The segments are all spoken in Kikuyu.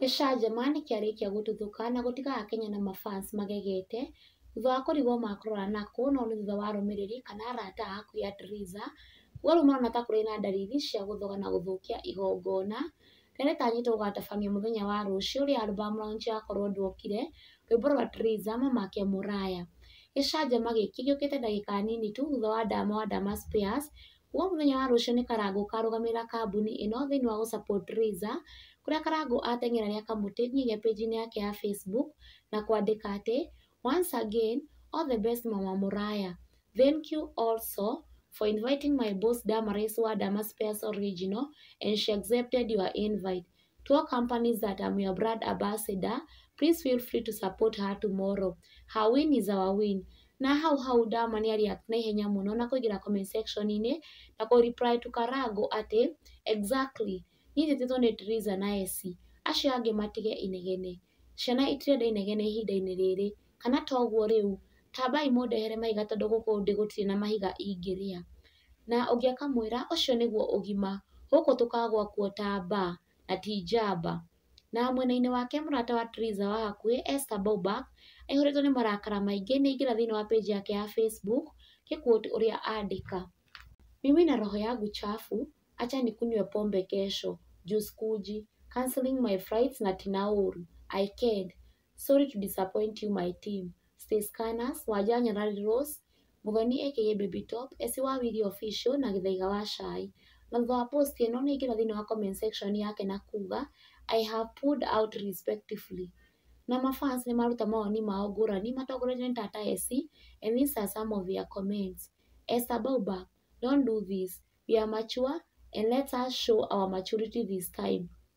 Gĩcanjama nĩkĩarĩkia gũtuthũka na gũtiga akenya na mafans magegete thutha wa kũrigwo makũrora nakũ no nĩ thutha wa arũmĩrĩri kana arata a hakuhĩ a Theresa kuga rĩu marona ta kũrĩ na ndariri cia gũthoga na gũthũkia igongona rĩrĩa rĩtanyĩtwo gũgatabanio mũthenya wa rũciũ rĩrĩa album launch ya korwo ndwokire rwĩmbo rwa Theresa mamake mũraya. Gĩcanjama gĩkĩ gĩũkĩte ndagĩka nini tu thutha wa Ndama wa Ndama Spears Kuma mũthenya wa rũciũ nĩ Karangũ ũkarũgamĩrĩra kambuni ĩno thĩinĩ wa gũ support Raiza, kũrĩa Karangũ ateng'era arĩ akamũtĩ nginya page inĩ yake ya Facebook na kwandĩka atĩ, Once again, all the best mama Mũraya. Thank you also for inviting my boss Damaris wa Damas Pearce Original and she accepted your invite. to all companies that I'm your brand ambassador please feel free to support her tomorrow her win is our win na hau hau Dama nĩ react na ihenya mũno na kũingĩra comment section -inĩ na kũ reply to Karango atĩ exactly niĩ njĩtĩtwo nĩ Theresa na Essie acio angĩ matige inegene ciana itirenda inegene ihinda-inĩ rĩrĩ. Kana to ũguo rĩu, tambai mũndehere mahiga tondũ gũkũ ndĩ gũtirĩ na mahiga ingĩrĩa. Na ũngĩ akamwĩra, ũcio nĩguo ũgima, gũkũ tũkagũa kuo ta mbaa, na ti njamba. Na mwena-inĩ wake mũrata wa Theresa wa hakuhĩ Esther Bobak, aihũrĩtwo nĩ marakara maingĩ nĩ aingĩra thĩinĩ wa page yake ya Facebook, nĩ quote ũrĩa andĩka, Mimi na roho yangu chafu, acha nikunywe pombe kesho, juu sikuji, cancelling my flights na tinauru, I ked, Sorry to disappoint you my team, Stay Scanners, Wanja Nyarari Rose, Muthoni aka Baby Top, Essie wa Wili Official na Gĩthaiga wa Cai. Na thutha wa post ĩno nĩ ingĩra thĩinĩ wa comment section yake na kuga I have pulled out respectively. Na ma fans nĩ maruta mawoni mao ngũrani matongoretio nĩ Tata Essie and these are some of their comments. Esther Bauba, don't do this, we are mature and let us show our maturity this time.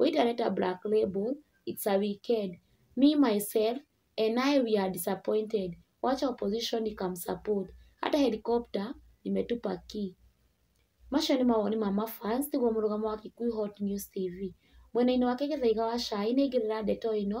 Ũyũ ndĩrareta black label, it's a weekend, me myself and I we are disappointed, wacha opposition ikam support, hata helicopter imetupa key. Macio nĩ mawoni ma ma fans nĩguo mũrũgamo wa Kikuyu Hot News TV. Mwena-inĩ wake Gĩthaiga wa Cai nĩ aingĩrĩra ndeto ĩno